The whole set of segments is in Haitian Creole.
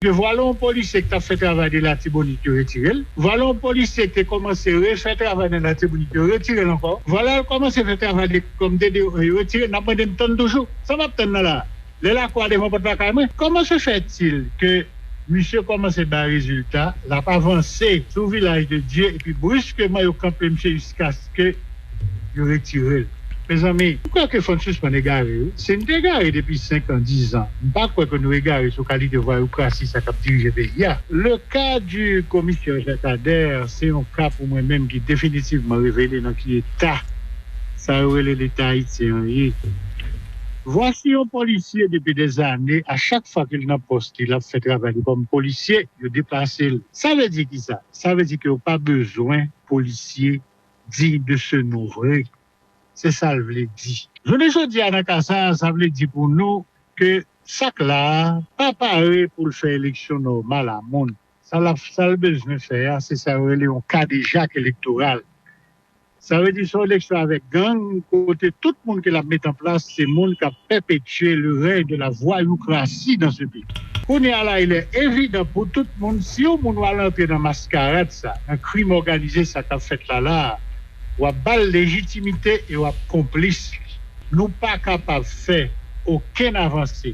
2 vwala yon polisye ki t ap fè travay de Latibonit yo retire l vwala yon polisye ki te kòmanse refè travay nan Latibonit yo retire l ankò vwala l kòmanse fè travay de kòm DDO yo retire l n ap mande m tann toujou sa m ap tann nan la a lè lakou a devan pòt lakay mwen kòman se fè t il ke misye kòmanse bay rezilta l ap avanse sou vilaj de Dye epi bruskeman yo kanpe misye jiska ke yo retirel mezanmi. M kwè ke fò n sispann egare wi. Si n te egare depi 5 an, 10 zan, m pa kwè ke nou egare sou kalite vwayoukrasi sa k ap dirije peyi a. Le ka di komisè Jacques Ader se yon ka pou mwen menm ki definitivman revele nan ki eta sa yo rele leta ayisyen an ye. Vwasi yon polisye depi dè zane a chak fwa ke l nan pòs li l ap fè travay li kòm polisye yo deplase l. Sa vle di kisa? Sa vle di ke yo pa bezwen polisye digne de ce nom vre se sa l vle di. Jounen jodi a nan ka sa a sa vle di pou nou ke sa k la a pa pare pou l fè eleksyon nòmal a moun sa l ap sa l bezwen fè a se sa yo rele yon kadejak elektoral sa vle di son eleksyon avèk gang kote tout moun ke l ap met an plas se moun k ap pèpetye le rèy de la vwayookrasi nan se peyi. Kounye a la ilè evidan pou tout moun si yon moun wal antre nan maskarad sa, nan krim òganize sa kap fèt la la a, wap bal lejitimite e wap konplis li. Nou pa kapab fè okenn avanse,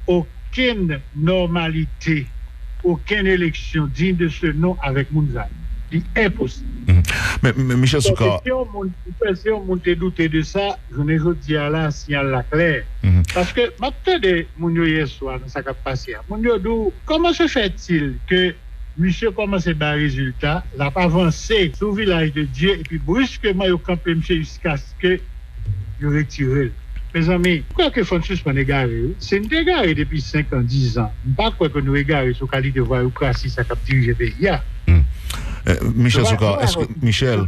okenn nòmalite, okenn eleksyon digne de ce nom avèk moun sa yo. Li enposib. Men Michel Soukar. Mwen panse si yon moun te doute de sa. jounen jodi a la siyal la klè paske map tande moun yo yèswa nan sa kap pase a moun yo di w kòman se fè til ke misye kòmanse bay rezilta lap avanse sou vilaj de Dye epi briskeman yo kanpe misye jiskaske yo retire l mezanmi m kwè ke fò n sispann egare wi si n te egare depi 5 an 10 an m pa kwè ke nou egare sou kalite vwayoukrasi sa kap dirije peyi a. Michel Soukar, Michel.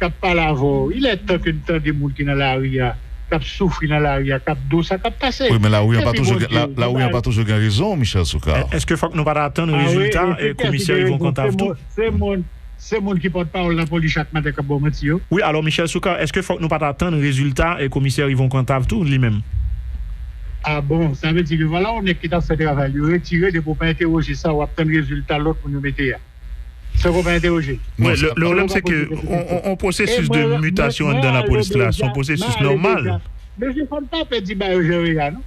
kap pale avè w il est tan ke n tande moun ki nan lari a kap soufri nan lari a kap do sa kap pase Wi men lari an pa epi toujou gen Bondye ou lari an pa toujou gen rezon Michel Soukar. Eske fòk nou pa ta atann Ah wi rezilta e se kiyès ki komisè gen Yvon rezon se Cantave tou? moun se moun se moun ki pòt pawòl nan polis chak maten kap baw manti yo. Wi alò Michel Soukar eske fòk nou pa ta atann rezilta e komisè Yvon Cantave tou li menm? Ah bon sa vle di ke vwala yon nèg ki tap fè travay li yo retire depi w pa entèwoje sa wap tann rezilta lòt moun yo mete a. Sa w konprann entèwoje? Non, sa pa yon pwosesis de seleksyon. Yon pwosesis de mitasyon anndan lapolis la, se yon pwosesis nòmal. Mesye, fò n pa pè di bagay yo jan yo ye a non.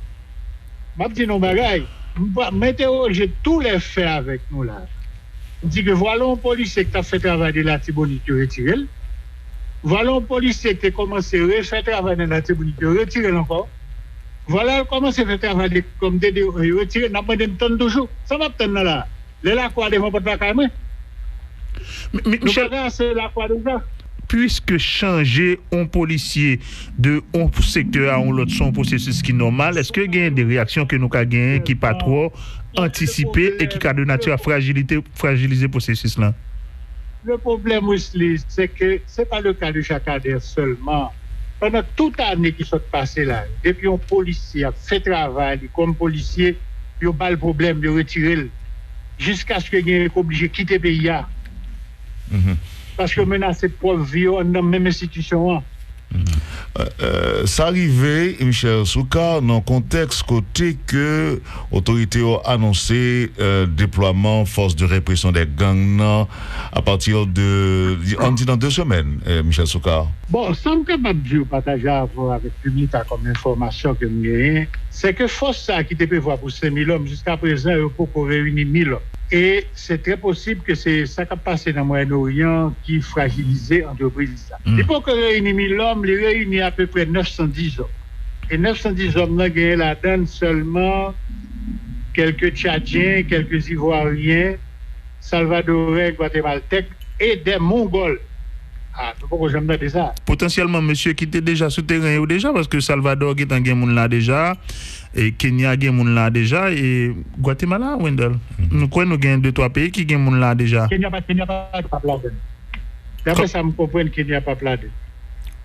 M ap di nou yon bagay, m entèwoje tou lè fè avèk nou la a. M di ke vwale yon polisye ki t ap fè travay de Latibonit, yo retire l. Vwale yon polisye ki te kòmanse refè travay nan Latibonit, yo retire l ankò. Vwale l kòmanse fè travay kòm DDO, yo retire l. N ap mande n tann toujou. Sa m ap tann nan la a? Lè lakwa devan pòt lakay mwen. Nou pa gen ase lakwa deja. Puiske chanje on polisye de on sektè a on lòt se on pwosesis ki nòmal, èske gen de reyaksyon ke nou ka genyen ki pa twò antisipe e ki ka de nati a frajilite, frajilize pwosesis lan? Le pwoblèm Wisly, se ke se pa le ka de Jakadè sèlman. Pandan tout ane ki sot pase la yo, depi yon polisye ap fè travay li kòm polisye, yo ba l pwoblèm, yo retire l, jiskaske gen yo ki oblije kite peyi a, paske yo menase pwòp vi yo anndan menm enstitisyon an. Sa rive, Michel Soukar, nan kontèks kote ke otorite yo anonse deplwaman Force de Répression des Gangs nan, a pati de an di nan 2 semèn Michel Soukar. Bon, sa m kapab di w pataje avè w avèk piblik la kòm enfòmasyon ke m genyen, se ke fòs sa ki te prevwa pou 5000 lòm jiskaprezan yo poko reyini 1000 lòm. E se trè posib ke se sa k ap pase nan Mwayen Oryan ki frajilize antrepriz sa. Li poko reyini 1000 lòm, li reyini apeprè 910 zòm. E 910 zòm lan genyen ladann sèlman kèlke Tchadyen, kèlke Ivwaryen. Salvadore Guatemaltèk e dè Mongòl. Ah nou poko janm tande sa. Potansyèlman mesye ki te deja sou teren yo deja paske Salvador gentan gen moun la deja e Kenya gen moun la deja e Guatemala Wendell m kwè nou gen de twa peyi ki gen moun la deja. Kenya pa Kenya pap ladann. Daprè sa m konprann Kenya pap ladann.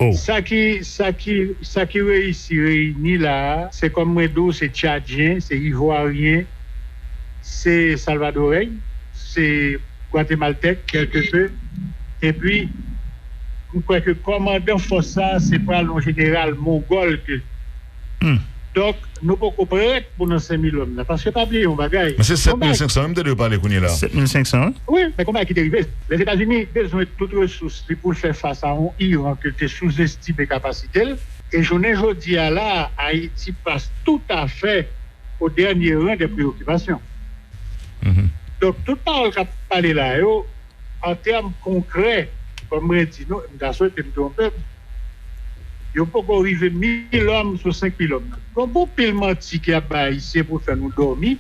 Oh. Sa ki sa ki sa ki reyisi reyini la a se kòm mwen di w se Tchadyen, se Ivwaryen, se Salvadorey, se Gwatemaltèk kèlke pe, epi m kwè ke kòmandan fòs sa a se pral yon jeneral mongòl ke. Donk, nou poko prèt pou nan Senmilonn nan. Paske pa bliye yon bagay. Men se 7500 an m tande yo pale kounye la. 7500 an. Wi, men konbay ki te rive. Lèzetazini bezwen tout resous li pou l fè fas a yon Iran ke l te souzestime kapasite l. E jounen jodi a la a, Ayiti pas toutafè. au dernier rang des préoccupations donk tout pawòl k ap pale la yo an tèm konkrè kòm mwen di nou e m ta swete m twonpe m yo poko rive mil òm sou senk mil òm nan donk gon pil manti ki ap bay ayisyen pou fè nou dòmi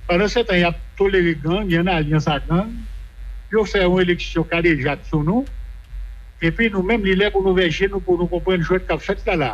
pandansetan y ap tolere gang y an alyans ak gang yo fè yon eleksyon kadejak sou nou epi nou menm li lè pou nou ouvè je nou pou nou konprann jwèt k ap fèt la la.